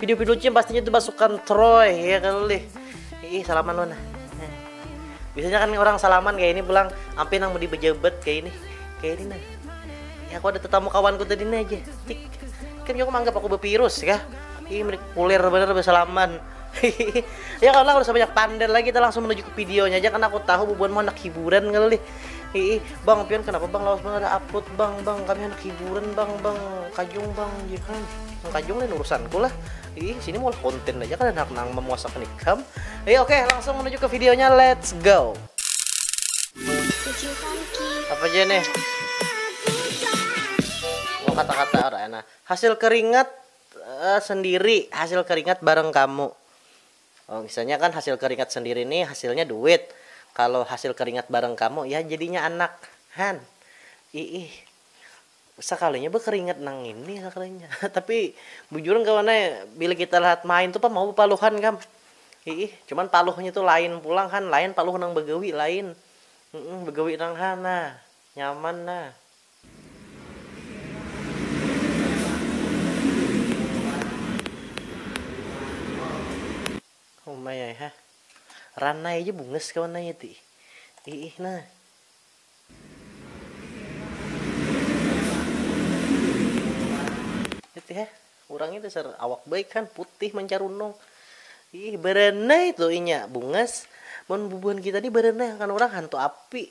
Video video cim pastinya itu basukan Troy ya kan lih. Ih salaman lo nah. Biasanya kan orang salaman kayak ini pulang ampe nang mau dibejebet kayak ini. Kayak ini nah. Ya aku ada tetamu kawanku tadi nih aja. Tik. Kan aku menganggap aku bervirus ya. Ih mereka kulir bener bersalaman. ya kalau udah sebanyak pander lagi kita langsung menuju ke videonya aja karena aku tahu bubuan mau anak hiburan kali Hiih, bang pian kenapa bang lawas banar aput bang, bang kami handak hiburan bang, bang kajung bang, jar ikam, nang kajung lain urusanku lah, hiih sini maulah konten aja kada handak nang memuasakan ikam, hiih oke langsung menuju ke videonya let's go. Apa ja nih? Oh kata-kata orang nah. Hasil keringat uh, sendiri, hasil keringat bareng kamu. Misalnya kan hasil keringat sendiri nih hasilnya duit, kalo hasil keringat bareng kamu ya jadinya anak han iih sakalinya bekeringat nang ngini sakalinya tapi bujuran kawan ai bila kita lahat main tu pang mau bepaluhan kam iih cuman paluhnya tu lain pulang han lain paluh nang begawi lain begawi nang ha nah nyaman nah. Ranai ja bungas kawan nanya ti iih nah. Urang nih dasar awak baik han putih mancarunung iih baranai tu inya bungas mun bubuhan kita nih baranai akan urang hantu api.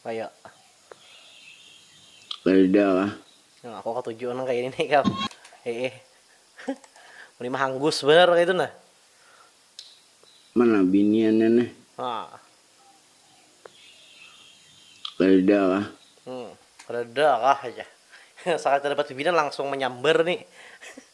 Kaya. Kadada lah. Nang aku katuju nang kaya ini kam. Heeh. Ulih mahanggus banar kaya itu nah. Mana biniannya nih. Nah. Kadada kah. Hmm. Kadada kah aja. Sakali tadapat bibinan langsung manyambar nih.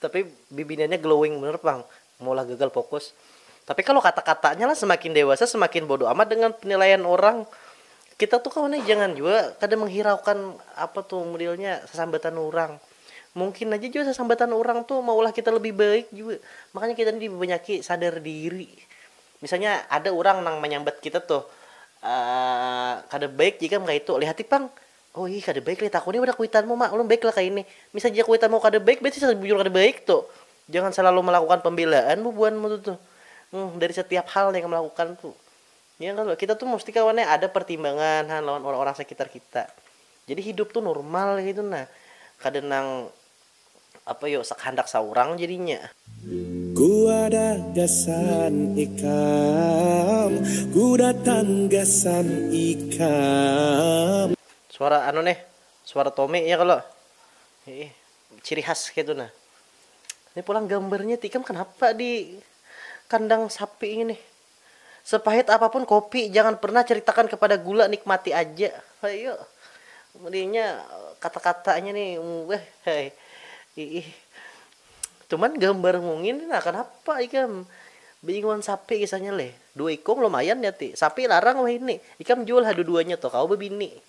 Tapi bibiniannya glowing banar pang maulah gagal fokus. Tapi kalo kata-katanya lah semakin dewasa semakin bodo amat dengan penilaian orang. Kita tuh kawan nih jangan jua kada menghiraukan apa tuh modelnya sasambatan orang. Mungkin aja jua sasambatan orang tuh maulah kita lebih baik jua. Makanya kita nih dibanyaki sadar diri. Misalnya ada orang nang manyambat kita tuh kada baik ikam kaitu, lihati pang Oh ih kada baik lih takuni pada kuitanmu mak ulun baik lah kaya ini, misal jika kuitanmu kada baik berarti sudah bujur kada baik tu, jangan salalu melakukan pembelaan bubuhanmu tu tuh um dari setiap hal nih ikam lakukan tu ya kalo kita tu musti kawan nih ada pertimbangan ha lawan orang-orang sekitar kita jadi hidup tu normal kaitu nah kada nang. apa yo sa kahandak saurang jadinya. Ku ada gasan ikam, ku datang gasan ikam. Suara anu neh, suara Tommy ya kalo? Hiih, ciri khas kaytu nah. Ini pulang gambarnya tikam kanapa di kandang sapi ngini? Sepahit apapun kopi, jangan pernah ceritakan kepada gula, nikmati aja. Hayu. Inya kata-katanya ni iih. Cuman gambar mungin ni nah kanapa ikam beingung wan sapi kisahnya leh. Dua ikung lumayan nya ti. Sapi larang wahini. Ikam jual ha dua-duanya tuh, kawa babini.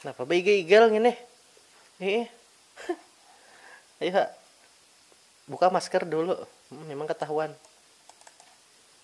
Napa baigal-igal ngini? Iih. Ayu ha. Buka masker dulu. Memang katahuan.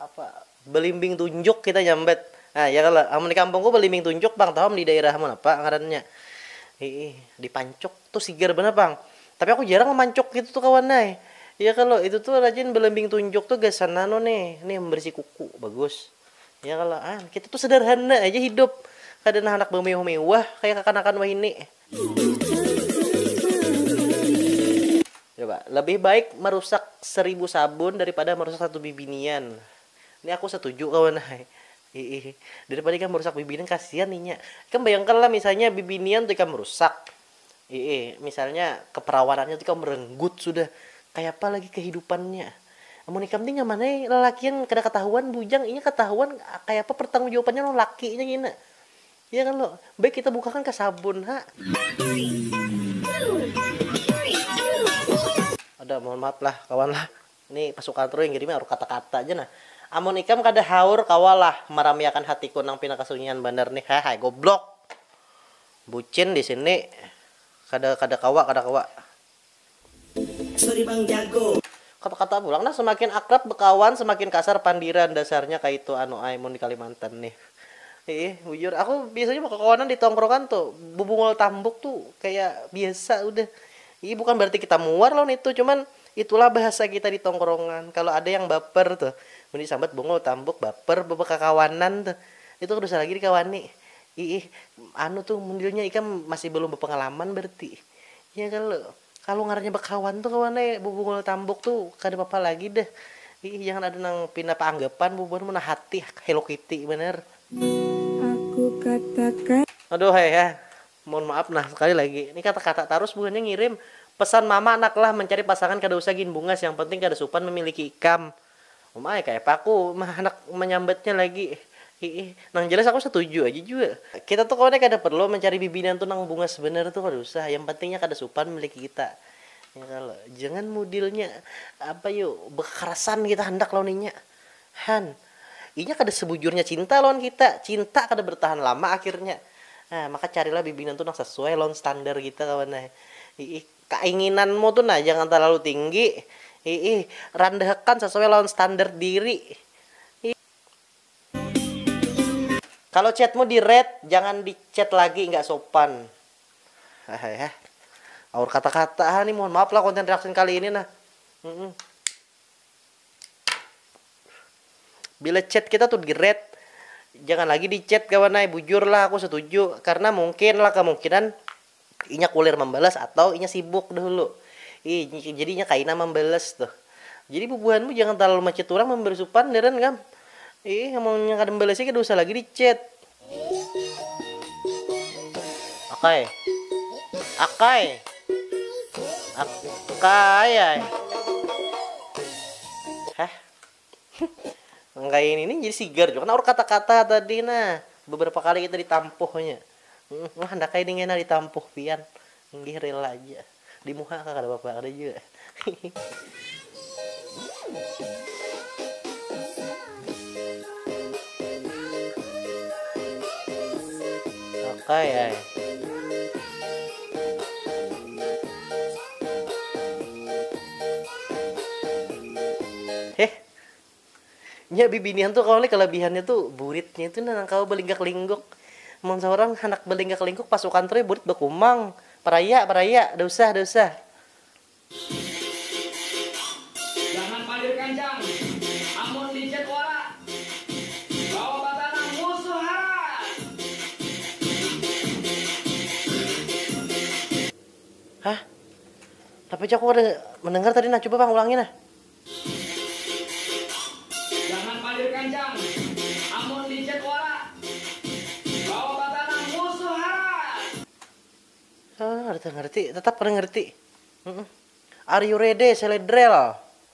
Apa belimbing tunjuk kita nyambat nah ya kalo amun di kampungku belimbing tunjuk pang tahu am di daerahmu napa ngarannya hiih di pancuk tu sigar banar pang tapi aku jarang memancuk ngitu tu kawan ai ya kalo itu tu rajin belimbing tunjuk tu gasan anu nih nih membersih kuku bagus ya kalo an kita tu sederhana aja hidup kada nang handak bemewah mewah kaya kakanakan wahini. Coba, lebih baik merusak seribu sabun daripada merusak satu bibinian. Ini aku setuju kawan ai. Hiih. Daripada ikam merusak bibinian kasihan inya. Ikam bayangkanlah misalnya bibinian tu ikam rusak. Hiih, misalnya keperawanannya tu ikam merenggut sudah. Kayapa lagi kehidupannya. Amun ikam ni nyaman ai lalakian kada ketahuan bujang, inya ketahuan kayapa pertanggung jawabannya lawan lakinya ngina. Iya kan lo. Baik kita bukakan ka sabun ha. Ada mohon maaf lah kawan lah. Ini pasukan True yang kirimi harus kata-kata ja nah. Amun ikam kada haur kawa lah maramiakan hatiku nang pina kasunyian banar nih hehai goblok. Bucin disini kada kada kawa kada kawa. Sorry bang jago. Kata kata pulang nah semakin akrab bekawan semakin kasar pandiran dasarnya kaitu anu ai mun di kalimantan nih iih bujur aku biasanya bakakawanan di tongkrongan tu bubungul tambuk tu kaya biasa udah iih bukan berarti kita muar lawan itu cuman itulah bahasa kita di tongkrongan kalo ada yang baper tu mun di sambat bungul tambuk baper bebakakawanan tu itu kada usah lagi dikawani iih anu tu mun dirinya ikam masih balum bapangalaman berarti. Ya kalo, kalo ngarannya bakawan tu kawan ai bubungul tambuk tu kada papa lagi dah, iih jangan ada nang pina paanggapan bubuhan mun hati hello kitty banar. Aku katakan. Aduh ai ha, mohon maaf nah sekali lagi, ni kata kata tarus buhannya ngirim, pesan mama naklah mencari pasangan kada usah gin bungas yang penting kada supan memiliki ikam. Um ai, kayapa aku handak manyambatnya lagi. Hiih, nang jelas aku satuju aja jua. Kita tu kawannya kada perlu mancari bibinian tu nang bungas banar tu kada usah, yang penting nya kada supan miliki kita. Ya kalo, jangan mudilnya apa yu bekakarasan kita handak lawan inya. Han, inya kada sebujurnya cinta lawan kita, cinta kada bertahan lama akhirnya. Nah, maka carilah bibinian tu nang sesuai lawan standar kita kawan ai. Hiih. Kainginanmu tu nah jangan talalu tinggi, iih, randahakan sasuai lawan standard diri, iih. Kalo chatmu di read, jangan di chat lagi nggak sopan, hahaihah. Aur kata-kata ha ni, mohon maaf lah konten reaction kali ini nah, humm. Bila chat kita tu di read, jangan lagi di chat kawan ai, bujur lah aku setuju, karena mungkin lah kemungkinan. Inya kulir mambalas atau inya sibuk dahulu. Ih, jadi inya kaina mambalas tuh. Jadi bubuhanmu jangan talalu machat urang mambari supan deren kam. Ih, amun inya kada mambalasi kada usah lagi di chat. Akay. Akay. Akay ai. Heh. Nang kaya ini ni jadi sigar jua naur kata-kata tadi nah. Beberapa kali kita ditampuhnya. Nah handak kaya ini kena ditampuh pian. Inggih rela haja. Di muha kah kada papa, kada jua. Heh. Nya bibinian tu kawa leh kalabihannya tu buritnya tu nang kawa balinggak lingguk. Mun saurang handak balinggak lingguk pas sukan trui burit bakumang, paraya paraya, dausah dausah. Jangan palir kancang, amun di chat wara, kawa batanam musuh harat. Hah? Napa ja aku kada mendengar tadi nah, coba pang ulangi nah. Jangan palir kancang, amun di chat wara, kawa batanam musuh harat. Hah, kada tangarti, tetap kada ngerti. Are you ready, seledrel?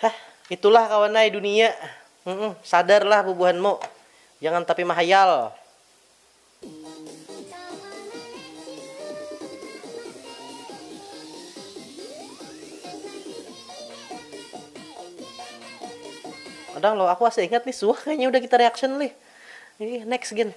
Hah, itulah kawan ai dunia. Humm, sadarlah bubuhanmu. Jangan tapi mahayal. Kadang lo, aku asa ingat nih suah kayaknya udah kita reaction lih. Ih, next gin.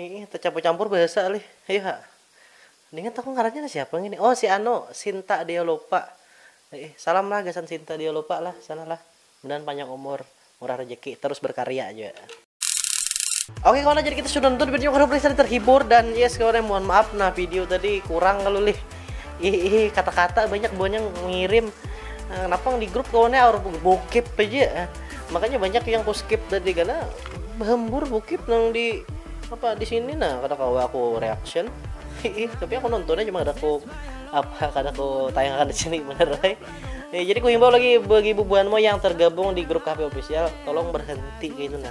Iih tecampur-campur bahasa lih. Ayu ha. Ningat aku ngarannya nang siapa ngini. Oh si anu, Sinta Deolopa. Iih, salam lah gasan Sinta Deolopa lah sana lah. Mudahan panjang umur, murah rejeki, terus berkarya jua. Oke kawan jadi kita sudah nonton videonya, mudah-mudahan kalian terhibur dan yes kawan mohon maaf nah video tadi kurang kalu lih. Ih, ih, kata-kata banyak buahnya ngirim. Eh, kenapa yang di grup kawannya harus bokep aja? Eh, makanya banyak yang ku skip tadi karena hembur bokep nang di apa di sini nah kada kawa aku reaction. Ih, tapi aku nontonnya cuma ada aku apa kada aku tayangkan di sini bener. Eh. Ya, jadi ku himbau lagi bagi bubuhanmu yang tergabung di grup kafe official, tolong berhenti kayak itu nah.